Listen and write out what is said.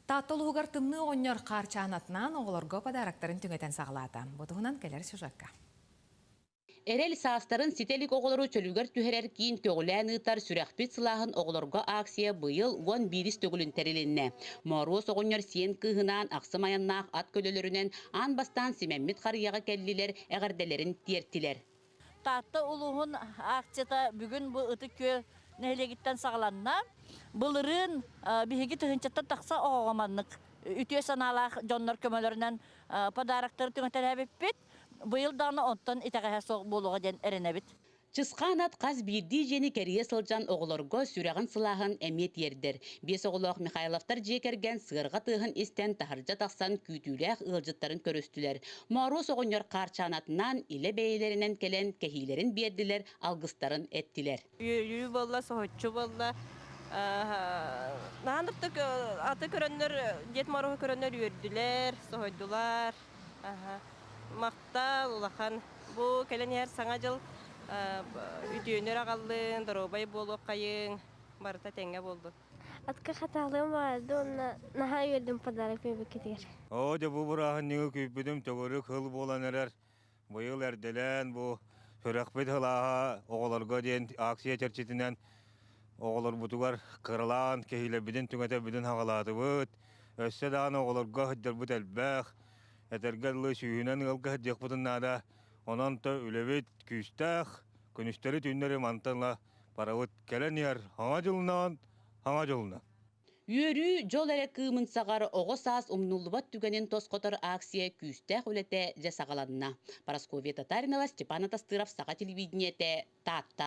Таатта улууһугар Тымныы оҕонньор хаарчаан атынан оҕолорго подароктарын түҥэтэн саҕалаата. Бу туһунан кэлэр сюжетка. Эрэл саастарын ситэ илик оҕолору чөлүгэр түһэрэр киин көҕүлээн ыытар Сүрэхпит сылааһын оҕолорго ааксыйа быйыл уон биирис төгүлүн тэрилиннэ. Мооруос оҕонньор сиэн кыыһынаан ахсым айаннаах ат көлөлөрүнэн аан бастаан Симэммит харыйаҕа кэллилэр, эҕэрдэлэрин тиэртилэр. Таатта улууһун аахчыта бүгүн бу Ытык-Күөл нэһилиэгиттэн саҕаланна. Былырыын биһиги тыһыынчаттан тахса оҕоҕо маннык үтүө санаалаах дьоннор көмөлөрүнэн подароктары түҥэтэлээбиппит. Быйыл даҕаны онтон итэҕэһэ суох буолуоҕа диэн эрэнэбит. Чысхаан ат хас биирдии дьиэни кэрийэ сылдьан оҕолорго сүрэҕин-сылааһын эмиэ тиэрдэр. Биэс оҕолоох Михайловтар дьиэ кэргэн сыарҕа тыаһын истэн таһырдьа тахсан күүтүүлээх ыалдьыттарын көрүстүлэр. Мороз оҕонньор хаарчаанатынан илэ бэйэлэринэн кэлэн кэһиилэрин биэрдилэр, алгыстарын эттилэр. Үөрүү буолла, соһуччу буолла. Наһан да аты көрөннөр, Дед Морозу көрөннөр үөрдүлэр, соһойдулар. Махтал улахан. Бу кэлэн иһэр Саҥа дьыл үтүөнү аҕаллын, доруобай буолуоххайыҥ, барыта тэҥҥэ буоллун. Атка хатаалыым барады уонна наһаа үөрдүм подарок күүбүккитигэр. Оо, дьэ бу бырааһынньыгы күүппүтүм төгүрүк хыл буолан эрэр. Быйыл эрдэлээн бу сүрэхпит хылааһа оҕолорго диэн акция чэрчитинэн оҕолорбутугар кыралаан кэһиилэрбитин түҥэтэбитин хаҕалаатыбыт. Өссө даҕаны оҕолорго сылдьарбыт элбэх. Этэргэ дылы сүүһүнэн ыалга сылдьыахпытын наада. Онон то үлэбит күүстээх. Күнүстэри түүннэри мантан ыла Паравыт кэлэн иһэр хаҥа дьылынаан хаҥа дьылынан. Үөрүү дьол эрэ кыымын саҕар оҕо саас умнуллубат түгэнин тосхотор акция күүстээх үлэтэ дьэ саҕаланна. Парасковья Татаринова, Степан Атастыров, Саха телевидениетэ, Таатта.